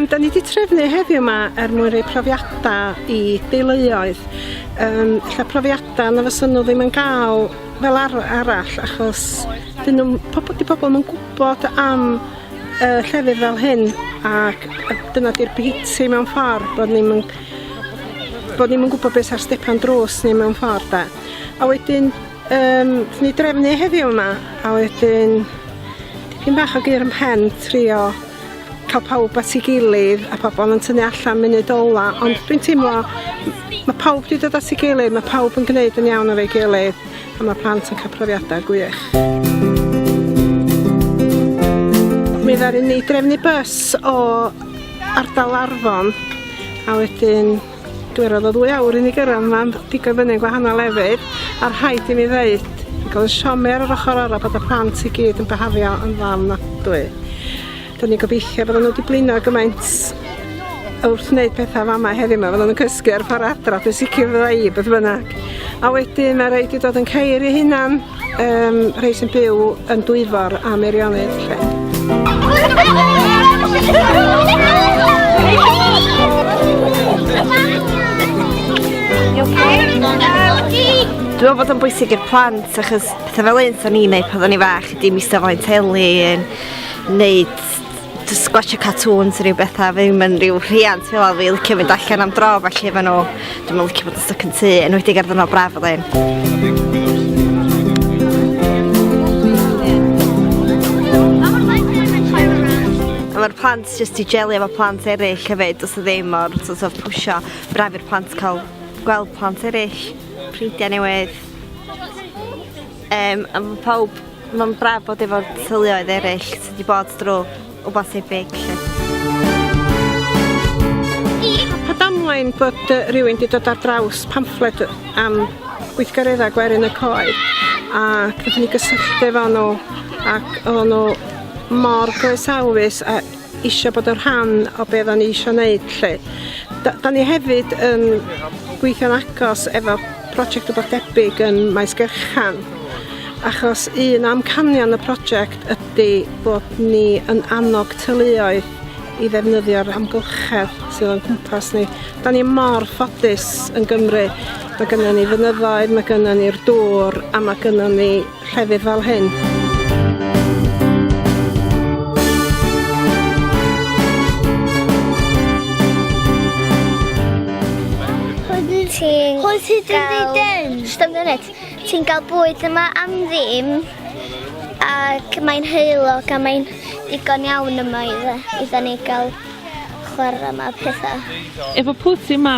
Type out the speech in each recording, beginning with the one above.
da ni wedi trefnu heddiw yma er mwyn rhoi profiadau i deuluoedd. Um, lle profiadau na fysyn nhw ddim yn gael fel ar arall achos dyn nhw, pobl, di pobl yn gwybod am uh, llefydd fel hyn ac dyna di'r biti mewn ffordd bod ni'n bod ni'n gwybod beth sy'n stepan drws ni mewn ffordd da. A wedyn, um, ni drefnu heddiw yma, a wedyn, dipyn bach o gyr yn pen trio cael pawb at ei gilydd a pobl yn tynnu allan munud ola, ond dwi'n teimlo, mae pawb wedi dod at ei gilydd, mae pawb yn gwneud yn iawn ar ei gilydd, a mae plant yn cael profiadau gwych. Mi ddaru ni drefnu bus o ardal Arfon A wedyn dwi roid o ddwy awr i ni gyrradd ma pigo fyny yn gwahanol lefydd a rhaid i mi ddeud ac o'dd y siomia ar yr ochor arall bod y plant i gyd yn byhafio yn dda ofnadwy. Da ni gobeithio bod n'w di blino gymaint wrth wneud pethau fama heddiw ma fyddan nhw'n cysgu ar ffor adra dwi'n sicr fydda i beth bynnag a wedyn ma raid i dod yn ceir i hunan. um, rhai sy'n byw yn dwyfor a meirionydd lle. Dwi'n meddwl bod o'n bwysig i'r plant achos pethau fel un o'n i'n neud pan o'n i fach ydy mista flaen teli yn neud just gwachio cartoons rhyw betha ddim yn rhyw rhiant fel a fi licio mynd allan am dro felly efo nhw dwi'm yn licio bod yn stuck yn tŷ yn wedi gerdd yno braf oedd ein. mae'r plant jyst i jelio efo plant eraill hefyd os ydy ddim o'r sort of pwysio braf i'r plant cael gweld plant eraill, ffrindiau newydd. Yym a ma' pawb ma'n braf bod efo'r teuluoedd ereill sy' 'di bod drw' wbath tebyg 'lly. Pa damwain bod yy rywun 'di dod ar draws pamffled yy am gweithgaredda gwerin y coed ac nathon ni gysylltu efo nw ac oddan nw mor groesawus a isio bod yn rhan o be oeddan ni isio wneud 'lly. Da, da ni hefyd yn gweithio'n agos efo prosiect rhywbeth debyg yn Maes Gerchan achos un amcanion y prosiect ydy bod ni yn annog teuluoedd i ddefnyddio'r amgylchedd sydd o'n cwmpas ni. Da ni mor ffodus yn Gymru. Mae gennym ni fynyddoedd, mae gennym ni'r dŵr a mae gennym ni llefydd fel hyn. ti'n... Hwyl ti dy dden. Stop minute. Ti'n gael bwyd yma am ddim ac mae'n heulog a mae'n digon iawn yma i dda ni gael chwarae yma pethau. Efo pwy ti yma?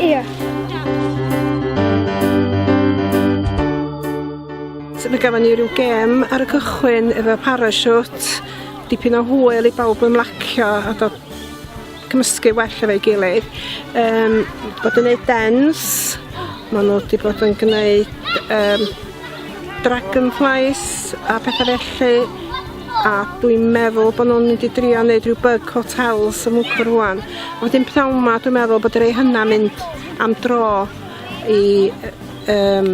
Ia. So mae gafon ni rhyw gem ar y cychwyn efo parachute, dipyn o hwyl i bawb ymlacio a dod cymysgu well efo'i gilydd. Um, bod yn gwneud dens, maen nhw wedi bod yn gwneud um, dragonflies a pethau felly. a dwi'n meddwl bod nhw'n mynd i drio wneud rhyw bug hotels yn Mwcwr rwan. A wedyn pnawn ma dwi'n meddwl bod rei hynna mynd am dro i um,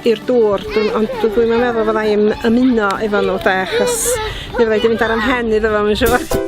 i'r dŵr, ond dwi'n meddwl fydda i'n ymuno efo nhw de, achos mi fydda i wedi mynd ar ymhen iddo fo, mae'n siŵr.